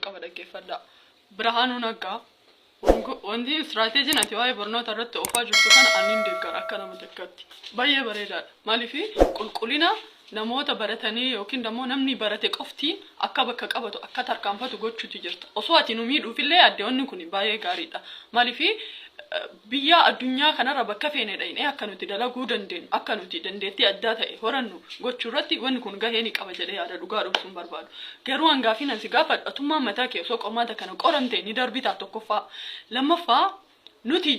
qaba dhaggeeffadhaa. Birhaanuu Naggaa wanti istiraateejiin ati waa'ee barnoota irratti oofaa jirtu kana ani hin deeggara akka nama tokkotti. Baay'ee bareedaadha. Maaliif qulqullina namoota baratanii yookiin immoo namni barate qofti akka bakka qabatu akka tarkaanfatu gochuuti jirta. Osoo ati nu miidhuufillee addeewwanni kun baay'ee gaariidha. Maaliif Biyyaa addunyaa kanarra bakka feene dhayinee akka nuti dalaguu dandeenu, akka nuti dandeettii addaa ta'e horannu gochuurratti wanni kun gahee ni qaba jedhee yaada. Dhugaa dhoksuun barbaadu. Garuu an gaaffiin an si gaafadhu atummaan mataa kee osoo qormaata kana qoramtee ni darbitaa tokkoffaa. Lammaffaa nuti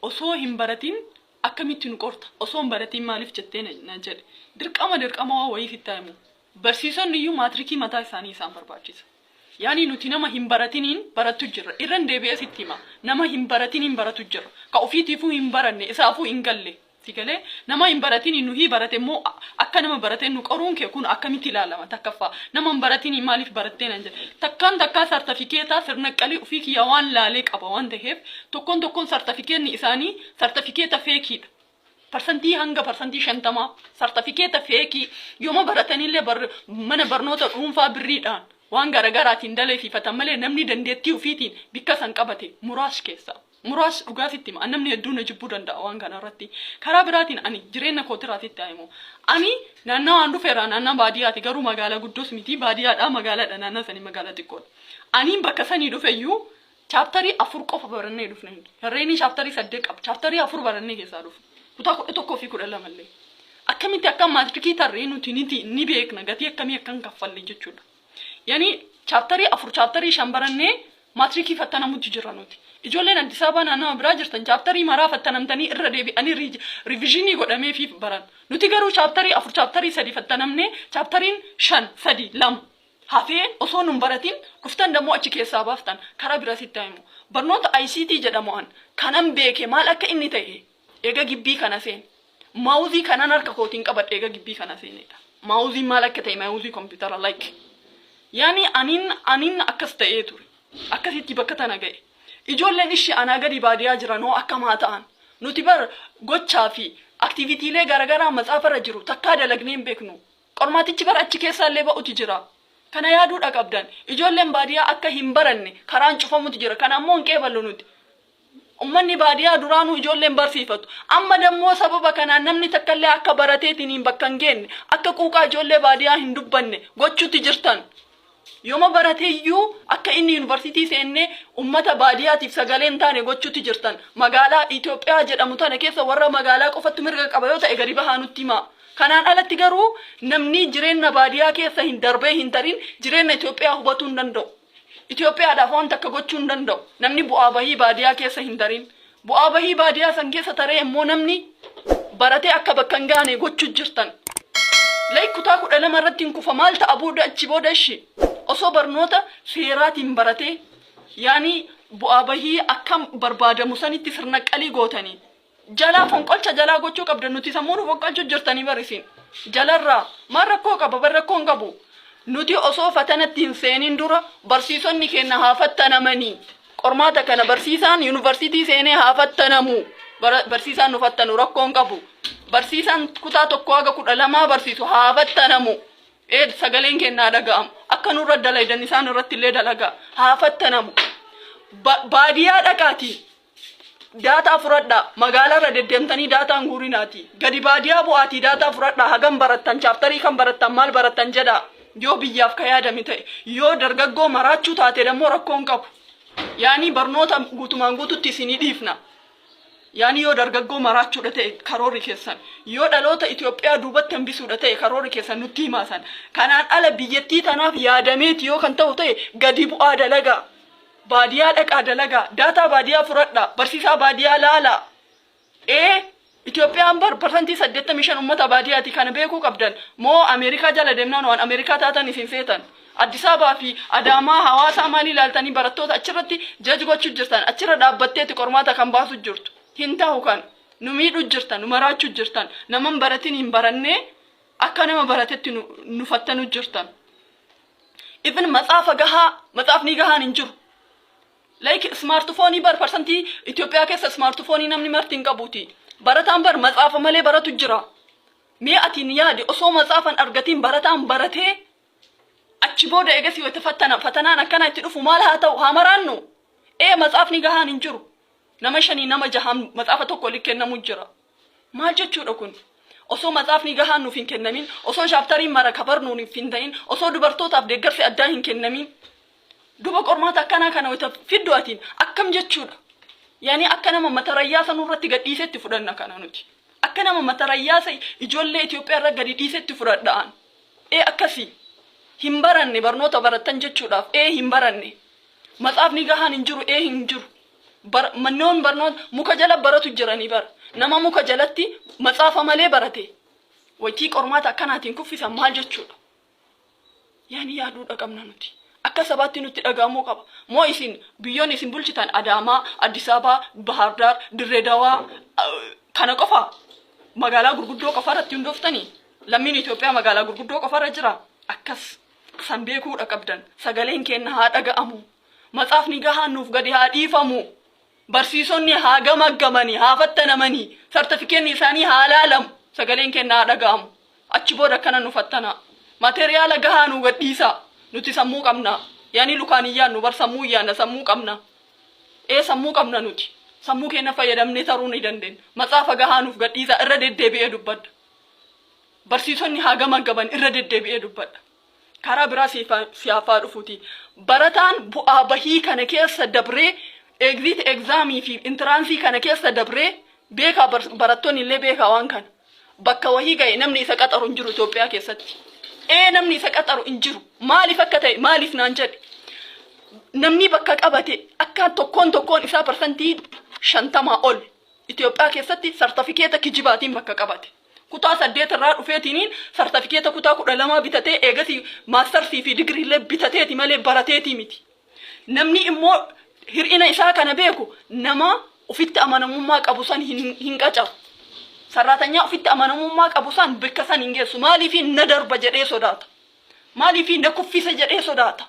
osoo hin baratiin akkamitti nu qorta? Osoo hin baratiin maaliif jettee na na jedhe. Dirqama dirqama waan wayii sittaa himu. Barsiisonni iyyuu maatirikii mataa isaanii isaan barbaachisa. Yaani nuti nama hin baratiniin barattu jirra. Irran deebi'ee sitti hima. Nama hin baratiniin baratu jirra. Ka ufiitiifuu hin baranne, isaafuu hin galle. Si galee? Nama hin baratiniin nuhii barate immoo akka nama baratee nu qoruun kee kun akkamitti ilaalama? Takkaffaa, nama hin baratiniin maaliif barattee naan jedha. Takkaan takkaa sartafikeetaa sirnaqqalii ufii kiyyaa waan laalee qaba waan taheef, tokkoon tokkoon sartafikeetni isaanii sartafikeeta feekiidha. Parsantii hanga parsantii shantamaa sartafikeeta feekii yoma baratanillee bar, mana barnoota dhuunfaa birriidhaan waan garagaraatiin daleefifatan malee namni dandeettii ufiitiin bikka san qabate muraas keessa. Muraas dhugaa sitti hima an namni hedduu na jibbuu danda'a waan kana irratti. Karaa biraatiin ani jireenna kootirraa sitti haa himu. Ani naannawa an dhufe irraa naannawa baadiyaati garuu magaala guddos miti baadiyaadhaa magaalaadha naannawa sanii magaala xiqqoodha. Aniin bakka sanii dhufeyyuu Chaaptarii afur qofa barannee dhufne nuti. Herreeynii chaaptarii saddeet qaba. Chaaptarii afur barannee keessaa dhufne. Kutaa kudha tokkoo fi kudha lama illee. Akkamitti akka maatirikii tarree nuti niti ni beekna gatii akkamii akka hin kaffalle jechuudha. Yani chaaptarii afur chaaptarii shan barannee maatirikii fattanamutti jirra nuti. Ijoolleen Addis Ababaa naannawa biraa jirtan chaaptarii maraa fattanamtanii irra deebi'anii riij- riivizhinii godhameefiif baran. Nuti garuu chaaptarii afur chaaptarii sadi fattanamnee chaaptariin shan sadi lama hafee osoo nun baratin dhuftan dammoo achi keessaa baaftan karaa biraa sitti haa himu. Barnoota ICT jedhamu an kanan beeke maal akka inni ta'e eega gibbii kana seene. Maawuzii kanan harka kootiin qabadhe eega gibbii kana seeneedha. Maawuziin maal akka ta'e maawuzii kompiitara like. Yaani anin anin akkas ta'ee ture. Akkasitti bakka tana ga'e. Ijoolleen ishi anaa gadi baadiyaa jiran hoo akkam haa ta'an? Nuti bar gochaa fi aktiivitiilee garagaraa matsaafarra jiru takkaa dalagnee hin beeknu. Qormaatichi bar achi keessaallee ba'uti jira. Kana yaaduudha qabdan. Ijoolleen baadiyaa akka hin baranne karaan cufamuti jira. Kana ammoo hin qeeballu nuti. Ummanni baadiyaa duraanuu ijoollee hin barsiifatu. Amma dammoo sababa kanaan namni takkallee akka barateetiniin bakka hin geenne, akka quuqaa ijoollee baadiyaa hin dubbanne gochuutti jirtan. Yoma barate iyyuu akka inni yunivarsiitii seenne ummata baadiyaatiif sagalee hin taane gochuutti jirtan. Magaalaa Itoophiyaa jedhamu tana keessa warra magaalaa qofattu mirga qaba yoo ta'e gadi bahaa nutti himaa. Kanaan alatti garuu namni jireenna baadiyaa keessa hin darbee hin tarin jireenna Itoophiyaa hubatuu hin danda'u. Itoophiyaadhaaf waan takka gochuu hin danda'u. Namni bu'aa bahii baadiyaa keessa hin tarin. Bu'aa bahii baadiyaa san keessa taree immoo namni baratee akka bakka hin gaane gochu jirtan. Like kutaa kudha lama irratti hin kufa maal ta'a booda achi booda ishi osoo barnoota seeraatiin baratee yaani bu'aa bahii akka barbaadamu sanitti sirnaqqalii gootanii. Jalaa fonqolcha jalaa gochuu qabdan nuti sammuu nu fonqolchu jirtanii barisiin. Jalarraa maal rakkoo qaba bar rakkoo hin qabu. Nuti osoo fatanatti hin seenin dura barsiisonni keenya haa fattanamanii. Qormaata kana barsiisaan yuunivarsiitii seenee haa fattanamu. Bara- Barsiisaan nu fattanu rakkoon qabu. Barsiisaan kutaa tokko haga kudha lamaa barsiisu haa fattanamu. Ee sagaleen keenya haa dhaga'amu. Akka nurra dalaydan isaan irratti illee dalagaa. Haa fattanamu. Ba- Baadiyyaa dhaqaatii daataa fudhadhaa. Magaalarra deddeemtanii daataan guurinaati. Gadi baadiyyaa bu'aatii daataa fudhadhaa. Hagam barattan, chaaptarii kan barattan, maal barattan jedhaa. Yoo biyyaaf ka yaadame ta'e, yoo dargaggoo maraachuu taate dammoo rakkoon qabu. Yaanii barnoota guutumaan guututti isinii dhiifna. Yaanii yoo dargaggoo maraachuudha ta'e karoorri keessan, yoo dhaloota Itoophiyaa duubatti hambisuudha ta'e karoorri keessan nutti himaa san. Kanaan ala biyyattii tanaaf yaadameeti yoo kan ta'u ta'e gadi bu'aa dalagaa. Baadiyaa dhaqaa dalagaa. Daataa baadiyaa furadhaa. Barsiisaa baadiyaa laalaa. Ee Itoophiyaan bar parsantii 85 ummata baadiyaati kana beekuu qabdan moo Ameerikaa jala deemnaan waan Ameerikaa taatan isin seetan Addis Ababaa fi Adaamaa Hawaasaa maal ilaaltanii barattoota achirratti judge gochu jirtan achirra dhaabbatteeti qormaata kan baasu jirtu hin tahu kan nu miidhu jirtan nu maraachu jirtan nama hin baratin hin barannee akka nama baratetti nu, nu fattanu jirtan even matsaafa gahaa matsaafni gahaan hin jiru Like ismaartifoonii bar parsantii Itoophiyaa keessa ismaartifoonii namni marti hin qabuuti. Barataan bar matsaafa malee baratu jira. Mee atiin yaadi osoo matsaafan argatiin barataan baratee achi booda eegasii wayita fattana fatanaan akkana itti dhufu maal haa ta'u haa maraannu. Ee matsaafni gahaan hin jiru. Nama shanii nama jahaan matsaafa tokko oli kennamu jira. Maal jechuudha kun? Osoo matsaafni gahaan nuuf hin kennamin, osoo shaaptariin mara kabarnuu nuuf hin ta'in, osoo dubartootaaf deeggarsi addaa hin kennamin. Duba qormaata akkanaa kana wayita fiddu atiin akkam jechuudha? Yani akka nama matarayyaasa nurratti gad dhiisetti fudhanna kana nuti. Akka nama matarayyaasa ijoollee Itoophiyaa irra gadi dhiisetti fudhadha an. Ee akkasi. Hin baranne barnoota barattan jechuudhaaf. Ee hin baranne. Matsaafni gahaan hin jiru. Ee hin jiru. Bar, mannoon barnoota muka jala baratu jiranii bara. Nama muka jalatti matsaafa malee barate. Waytii qormaata akkanaatiin kuffisan maal jechuudha? Yaani yaaduudha qabna nuti. Akka sabaatti nutti dhaga'amuu qaba. Moo isin biyyoonni isin bulchitan Adaamaa, Addis Ababaa, Bahaar Daar, Dirree Dawaa kana qofa magaalaa gurguddoo qofa irratti hundooftanii? Lammiin Itoophiyaa magaalaa gurguddoo qofa irra jira. Akkas san beekuudha qabdan. Sagaleen keenna haa dhaga'amu. Matsaafni gahaan nuuf gadi haa dhiifamu. Barsiisonni haa gamaggamani, haa fattanamani, sartifikeenni isaanii haa laalamu, sagaleen keenna haa dhaga'amu. Achi booda akkana nu fattanaa. Materiyaala gahaa nuu gad dhiisaa. Nuti sammuu qabna. Yaanii lukaan hin yaannu bar sammuun yaanna, sammuu qabna. Ee sammuu qabna nuti. Sammuu keenna fayyadamnee taruu ni dandeenna. Matsaafa gahaa nuuf gad dhiisaa. Irra deddeebi'ee dubbadha. Barsiisonni haa gamaggamani, irra deddeebi'ee dubbadha. Karaa biraa siif haa- si hafaa dhufuti. Barataan bu'aa bahii kana keessa dabree, exit exam fi entrance kana keessa dabree, beekaa bar- barattoonni illee beekaa waan kana. Bakka wahii ga'e namni isa qaxaru hin jiru Itoophiyaa keessatti. Ee namni isa qaxaru hin jiru. Maaliif akka ta'e maaliif naan jedhe. Namni bakka qabate akka tokkoon tokkoon isaa parsantii shantamaa ol Itoophiyaa keessatti sartifikeeta kijibaatiin bakka qabate. kutaa saddeet irraa dhufeetiniin sartifikeeta kutaa kudha lamaa bitatee eegasi maastarsii fi digiriillee bitateeti malee barateetii miti. Namni immoo hir'ina isaa kana beeku nama ofitti amanamummaa qabu san hin, hin qacaru. Sarraatanyaa ofitti amanamummaa qabu san bakka san hin geessu. Maaliif na darba jedhee sodaata. Maaliif na kuffisa jedhee sodaata.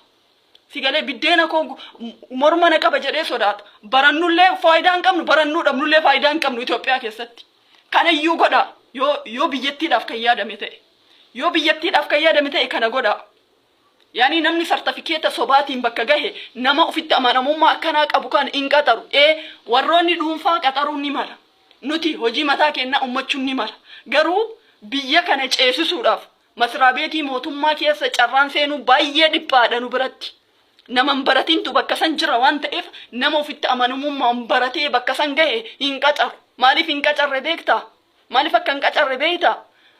Si galee biddeena koo gu- m- morma na qaba jedhee sodaata. Barannullee faayidaa hin qabnu, barannuu dhabnullee faayidaa hin qabnu Itoophiyaa keessatti. Kana iyyuu godhaa yoo, yoo biyyattiidhaaf kan yaadame ta'e. Yoo biyyattiidhaaf kan yaadame ta'e kana godhaa. Yaani namni sartifikeeta sobaatiin bakka gahe nama ofitti amanamummaa akkanaa qabu kan hin qaxaru. Ee warroonni dhuunfaa qaxaruun ni mala. Nuti hojii mataa keenyaa uummachuun ni mala. Garuu biyya kana ceesisuudhaaf Masraabeetii mootummaa keessa carraan seenuu baay'ee dhiphaadha nu biratti. Nama hin baratintu bakka san jira waan ta'eef nama ofitti amanamummaan baratee bakka san gahe hin qacaru. Maaliif hin qacarre beektaa? Maaliif akka hin qacarre beektaa?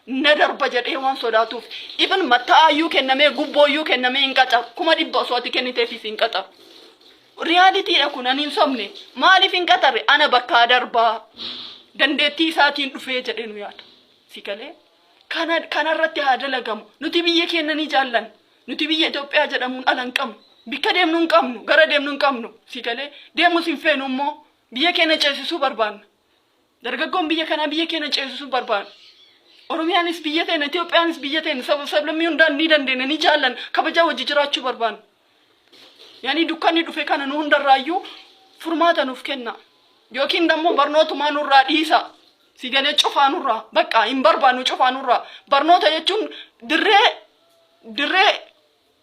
Na darba jedhee waan sodaatuuf. Even matta'aayyuu kennamee gubbooyyuu kennamee hin qacaru. Kuma dhibba osoo ati kenniteefis hin qacaru. Riyaaliitiidha kun ani hin sobne. Maaliif hin qacarre? Ana bakkaa darbaa. Dandeettii isaatiin dhufee jedhee nu yaada. Si galee? Kana kana irratti haa dalagamu. Nuti biyya keenya ni jaallanna. Nuti biyya Itoophiyaa jedhamuun ala hin qabnu. Bikka deemnu hin qabnu. Gara deemnu hin qabnu. Si galee deemus hin feenu immoo biyya keenya ceesisuu barbaanna. Dargaggoon biyya kanaa biyya keenya ceesisuu barbaanna. Oromiyaanis biyya teenya, Itoophiyaanis biyya teenya, saba sablammii hundaan ni dandeenya, ni jaallanna, kabajaa wajji jiraachuu barbaanna. Yaani dukkanni dhufe kana nu hundarraayyuu furmaata nuuf kenna. Yookiin dammoo barnootumaa nurraa dhiisa. Si galee cufaa nurraa bakka hin barbaannu cufaa nurraa. Barnoota jechuun dirree dirree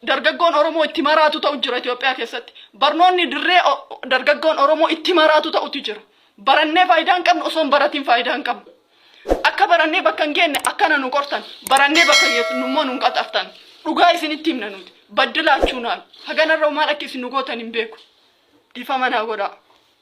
dargaggoon Oromoo itti maraatu ta'u jira Itoophiyaa keessatti. Barnoonni dirree o- dargaggoon Oromoo itti maraatu ta'utu jira. Barannee faayidaa hin qabnu osoo hin baratiin faayidaa hin qabnu. Akka barannee bakka hin geenne akkana nu qortan, barannee bakka geessinu immoo nun qaxartan. Dhugaa isinitti himna nuti. Baddilaachuunaan haganarra maal akka isin nu gootan hin beeku. Dhiifama naa godhaa.